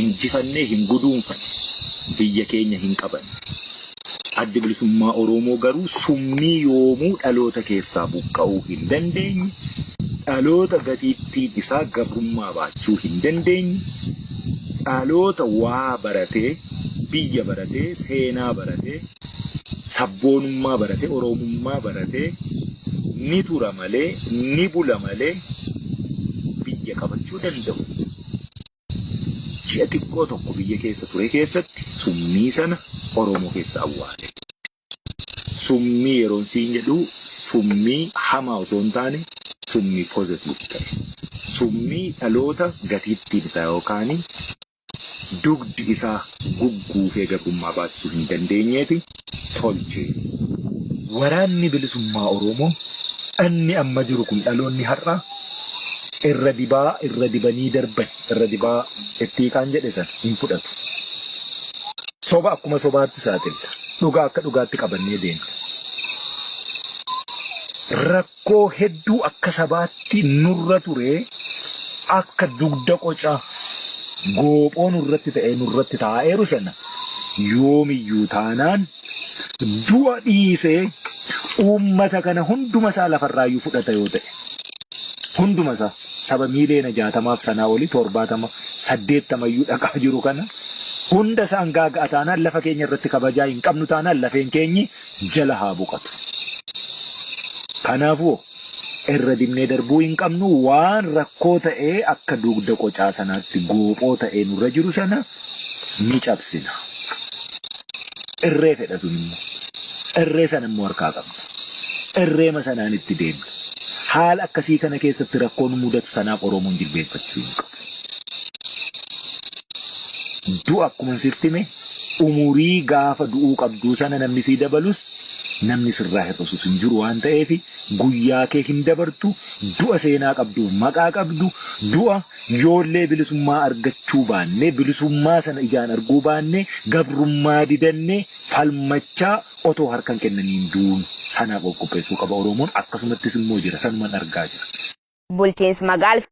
Injifannee hin guduunfane, biyya keenya hin qabanne. Addi Bilisummaa Oroomoo garuu summii yoomuu dhaloota keessaa buqqa'uu hin dandeenye, dhaloota gatiittiin isaa gabrummaa baachuu hin dandeenye, dhaloota waa baratee, biyya baratee, seenaa baratee, sabboonummaa baratee, Oroomummaa baratee ni tura malee, ni bula malee biyya qabachuu danda'u Ji'a xiqqoo tokko biyya keessa ture keessatti summii sana Oromoo keessa awwaale. Summii yeroon siin jedhu summii hamaa osoo hin taane summii positive ta'e. Summii dhaloota gatiittiin isaa yookaan dugdi isaa gugguufee gabrummaa baachuu hin dandeenyeeti. tolche. Waraanni Bilisummaa Oromoo dhanni amma jiru kun dhaloonni har'aa irra dibaa irra dibanii darban irra dibaa itti hiiqaan jedhe sana hin fudhatu. Soba akkuma sobaatti saaxilla. Dhugaa akka dhugaatti qabannee deemna. Rakkoo hedduu akka sabaatti nurra ture akka dugda qoca goophoo nurratti ta'ee nurratti taa'eeru sana yoomiyyuu taanaan du'a dhiisee uummata kana hunduma isaa lafarraayyuu fudhata yoo ta'e hunduma isaa saba miiliyoona jaatamaaf sanaa olii torbaatama saddeettamayyuu dhaqaa jiru kana hunda isaan gaaga'a taanaan lafa keenya irratti kabajaa hin qabnu taanaan lafeen keenyi jala haa boqatu. Kanaafuu irra dibnee darbuu hin qabnu waan rakkoo ta'ee akka dugda qocaa sanaatti goophoo ta'ee nurra jiru sana ni cabsina. Irree fedha sun immoo. Irree sana immoo harkaa qabna. Irreema sanaan itti deemna. Haala akkasii kana keessatti rakkoo nu mudatu sanaaf Oromoon jilbeenfachuu hin qabu. Du'a akkuma sirtti hime Umurii gaafa du'uu qabduu sana namni sii dabalus namni sirraa hir'isus hin jiru waan ta'eef guyyaa kee hin dabartu du'a seenaa qabduuf maqaa qabdu du'a yoollee bilisummaa argachuu baannee bilisummaa sana ijaan arguu baannee gabrummaa didannee falmachaa otoo harka hin kennaniin duunu sanaaf of qopheessuu qaba Oromoon akkasumattis immoo jira sanuman argaa jira. Bulchiinsi Magaalf.